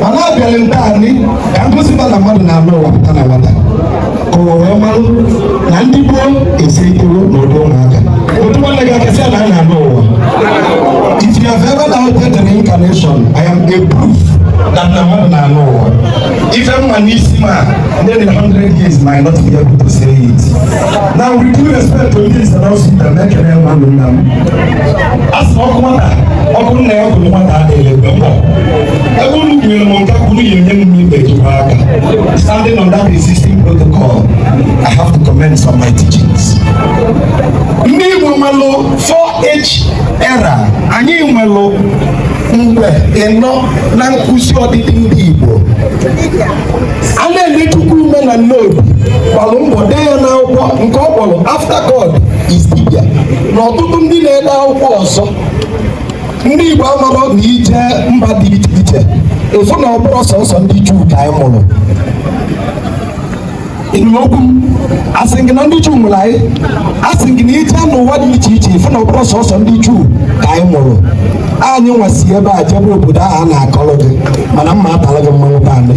mana abịara m taanị ka m gosipụta na mmadụ na-anọ ụwa pụta na nwata ka ụwa wee malụ na ndị gboo eseritewo na ụdị ụmụaka otu nwanne gị akasị na a na-anọ ụwa if you have ever doubted the reincarnation i am a proof that na mmadụ na-anọ ụwa ife m ma n'isi m ndị dị 100 years might not be able to say it now with due respect to ndị nsanọsi na mekere mmadụ nna m a sị okwu nwata okwu nna ya kwuru nwata adịghị egbe mba ebe unu kwunyere m nke kwuru ya enye m ibe jikwa aka standing on that existing protocol I have to commence my teachings ndị Igbo nwelụ 4 age era anyị nwelụ mgbe ịnọ na nkuzi ọdịdị ndị Igbo Anenechukwu Umeh na Nnobi gbalụ mbọ dee ya n'akwụkwọ nke ọ kpọrọ After God is Dibia na ọtụtụ ndị na-ede akwụkwọ ọzọ ndị Igbo amarọ na i jee mba dị iche iche ị fụ na ọ bụrọ sọsọ ndị Juu ka anyị mụrụ okwu m asị gị na ndị Juu mụrụ anyị asị gị na i jee n'ụwa dị iche iche ị fụ na ọ bụrọ sọsọ ndị Juu ka anyị mụrụ anyị nwa si ebe a jebe obodo ahụ a na-akọrọ gị mana mma atara gị mmanwụ be anyị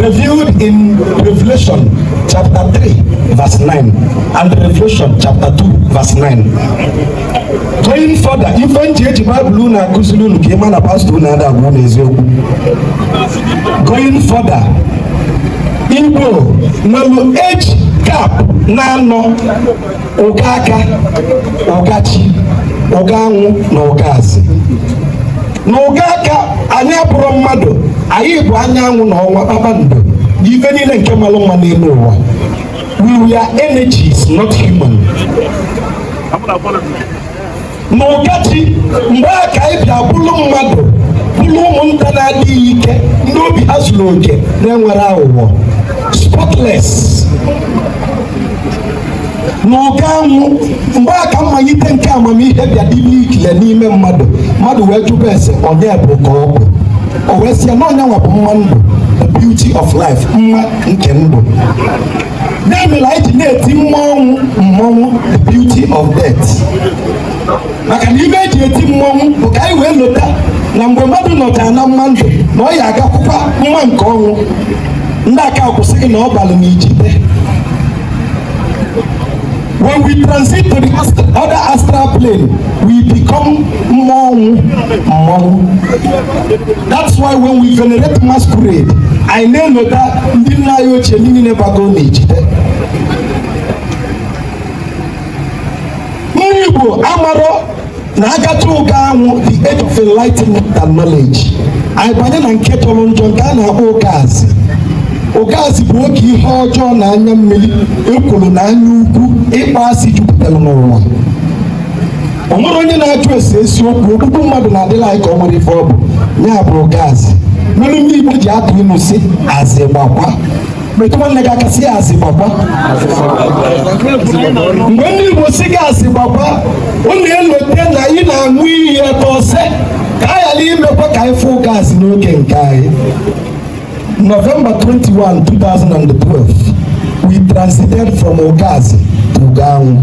Revealed in Revelation chapter 3 verse 9 and Revelation chapter 2 verse 9. Going further, ife m ji eji Baịbụl unu akụziri unu ka ị ma na pastọ unu ada agwa unu eziokwu. Going further, Igbo nwere age gap naanọ ụga aka ụga chi ụga anwụ na ụga azị na ụga aka anyị abụrọ mmadụ anyị bụ anyanwụ na ọnwa kpakpando ife niile nke malụ mma n'enu ụwa we were energies not human na ụga chi mgbe a ka anyị bịa bụrụ mmadụ bụrụ ụmụnta na-adịghị ike ndị obi ha zuru oke na-enwerọ aghụghọ spotless na ụga anwụ mgbe a ka mmalite nke amamihe bịa dịbe ikile n'ime mmadụ mmadụ wee jụba ese onye bụ ka ọ bụ o wee sị ya na onye nwa bụ mma ndụ the beauty of life mma nke ndụ ya mere anyị ji na-eti mmanwụ mma ọnwụ the beauty of death maka na ife e ji eti mmọnwụ bụ ka anyị wee lota na mgbe mmadụ nọchara na mma ndụ na ọ ya-agakwukwa mma nke ọnwụ ndị aka kwuo sị gị na ọ balụ na ijite When we transit to the other astral plane, we become mmọnwụ mma ọnwụ. That's why when we venerate masquerade, anyị na-elota ndị nna anyị ochie ndị niile bago n'ijite. Ndị Igbo amarọ na agata ụga anwụ the age of enlightenment and knowledge anyị banye na nke tọrọ njọ nke a na-akpọ ụga azị ụga azị bụ oge ihe ọjọọ na anya mmiri ekworo na anya ukwu ịkpọ asị jupụtara n'ụwa o nwerọ onye na-ajụ ese eziokwu ogbugbu mmadụ na-adịla anyị ka o nwere ife ọ bụ ya bụ ụga azị mere ndị Igbo ji atụ ilu sị azị gbakwa metụ nwanne gị aka sị ya azị gbakwa mgbe ndị Igbo sị gị azị gbakwa unu elote na ị na-aṅụ iyi ebe ọsọ ka a ghara imekwa ka anyị fụ ụga azị n'oge nke anyị November 21 2012 we transited from Ụga Azị to Ụga Anwụ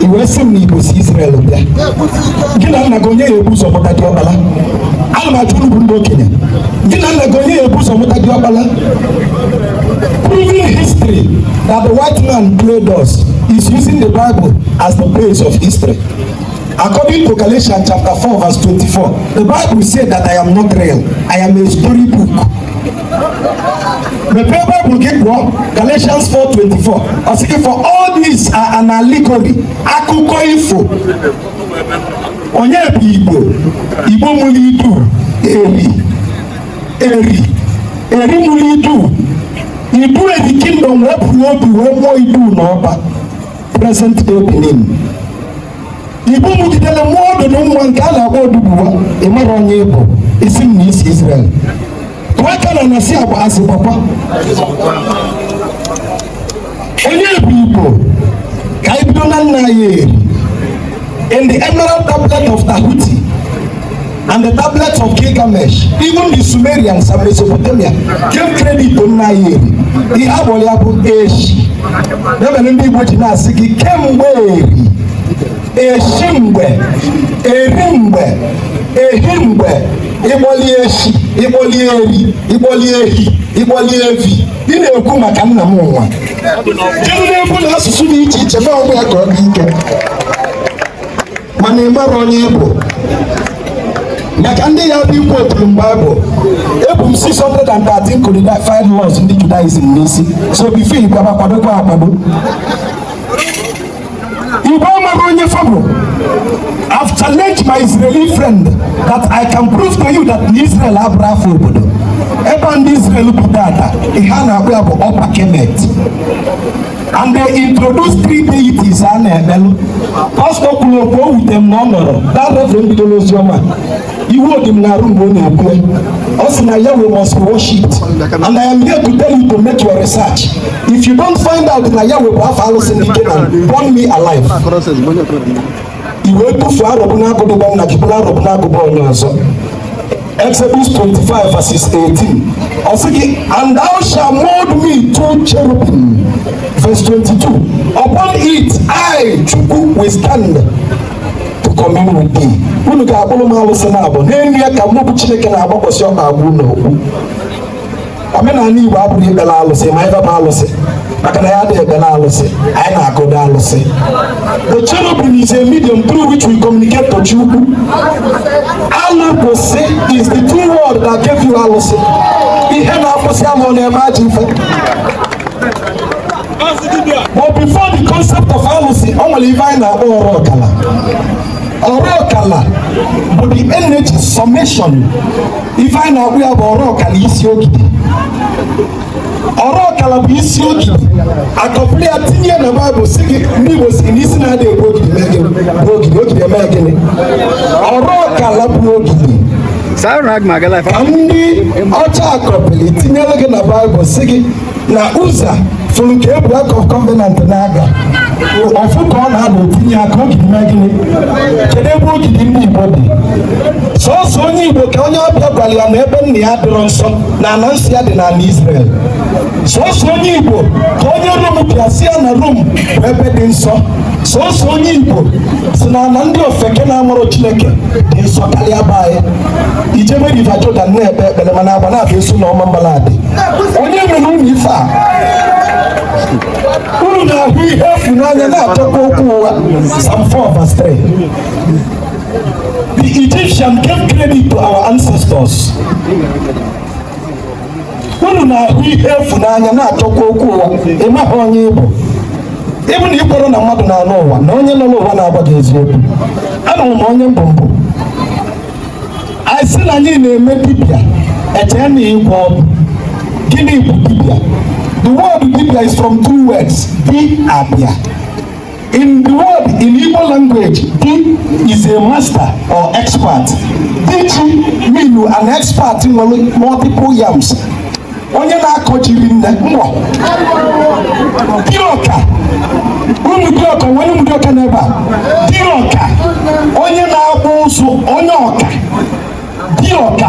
ị wee sị m na igbo si Israel bịa gị na nna gị onye ya ebu ụzọ mụta diọkpala ana m ajụ unu bụ ndị okenye gị na nna gị onye ya ebu ụzọ mụta diọkpala proving history that the white man played us is using the Bible as the base of history According to Galatians chapter 4, verse 24, the Bible said that I am not real. I am a storybook. mepee baịbụl gị gụọ galatians 4:24 ọ sị gị for all these are an allegory akụkọ ifo onye bụ igbo igbo mụrụ idu eri eri eri mụrụ idu idu eri kingdom wepụrụ obi wee mụọ idu n'ọba present day benin igbo mụgidere mụọ ọdụ na nwa nke a na-akpọ oduduwa ị marọ onye ị bụ ị sị m na i si Israel bịa aka na nasi agba azị gbakwa onye bụ igbo ka anyị bido na nna ya eri in the emerald tablet of Tahuti and the tablets of Gilgamesh, even the Sumerians and Mesopotamia gave credit to nna ya eri. Ihe a kpọlụ ya bụ eshi. Ya mere ndị Igbo ji na-asị gị kemgbe eri, eshi mgbe, eri mgbe, ehi mgbe, ị kpọlị eshi, ị kpọlị eri, ị kpọlị ehi, ị kpọlị evi. Ị na-ekwu maka nna ụwa. Kedu na-ekwu na asụsụ dị iche iche ma ọ bụ ya ka ọ dị ike. mana ị mara onye ị bụ maka ndị ya bụ ikwu oturu mgbe abụ ebu m 613 codified laws ndị judaism n'isi so bifo ikwaba kwadokwa akwado igbo mara onye fa bụ I've challenged my Israeli friend that I can prove to you that Israel abụrọ afa obodo ebe ndị Israel bi taata ihe a na-akpọ ya bụ Upper Kemet and they introduce three deities a na-ekpelụ pastọ kwuru okwu o wute m na ọ nọrọ that reverend bido n'ozi ọma iwu dị m n'arụ mgbe ọ na-ekwu ọ sị na Yahweh must worship and I am here to tell you to make your research if you don't find out na Yahweh bụ afa alụsị ndị Kenan burn me alive i wee tufuo arọbụnagụ dị be nna gị buru arọbụnagụ be onye ọzọ Exodus 25 verses 18. Ọ sị gị, and thou shalt mold me two cherubim. Verse 22. Upon it I, Chukwu, will stand to commune with thee. Unu ga-akpụrụ m alụsị naabọ. N'elu ya ka mụ bụ Chineke na-agbakwasị ọkpa agwa unu okwu. omenala Igbo abụghị ikpere alụsị ma ịbaba alụsị maka na anyị adịghị ekpere alụsị anyị na-agụda alụsị the cherubim is a medium through which we communicate to Chukwu alụ kwụsị is the true word that gave you alụsị ihe na-akwụsị ama ọ na-eme ajọ ife but before the concept of alụsị ọ nwere ife anyị na-akpọ ọrụ ọkala ọrụ ọkala bụ the energy summation ife anyị na-akpọ ya bụ ọrụ ọkala isi ogidi ọrụ ọkala bụ isi ogidi a kọpịrị ya tinye na baịbụl sị gị ndị igbo sị na isi na-adị egbu ogidi mee gịnị bụ ogidi ogidi emee gịnị ọrụ ọkala bụ ogidi ka ndị ọcha kọpịrị tinyere gị na baịbụl sị gị na uza fụrụ ka e bu ark of covenant na-aga ọ fụ ka ọ na-ada o tinye aka ogidi mee gịnị kedu ebe ogidi ndị igbo dị sọsọ onye igbo ka onye ọbịa gwara ya na ebe nna ya dịrọ nsọ na ala nsọ ya dị n'ala israel sọsọ onye igbo ka onye rom bịa sị ya na rom bụ ebe dị nsọ sọsọ onye igbo sị na ala ndị ofeke na-amarọ chineke dị nsọ karịa be anyị i jebe river jordan na-ekpe ekpere mana agba na-abịa asị na ọmambala adị onye mere unu ife a unu na-ahụ ihe efu n'anya na-achọkwa okwu ụgha Psalm 4 verse 3 The Egyptian gave credit to our ancestors unu na-ahụ ihe efu n'anya na-achọkwa okwu ụgha ị maghị onye ị bụ ọ bụ na i kwere na mmadụ na-anụ ụwa na onye nọ n'ụwa na-agwa gị eziokwu anụrụ m onye m bụ m bụ anyị sị na anyị na-eme dibịa e chee na ịgwọ ọgwụ gịnị bụ dibịa the word dibịa is from two words di abịa in the word in Igbo language di is a master or expert diji mean an expert nwere multiple yams onye na-akọ ji rinne nwee diọka ụmụdiọka onye ụmụdiọka n'ebe a diọka onye na-akpụ ụzụ onye ọka diọka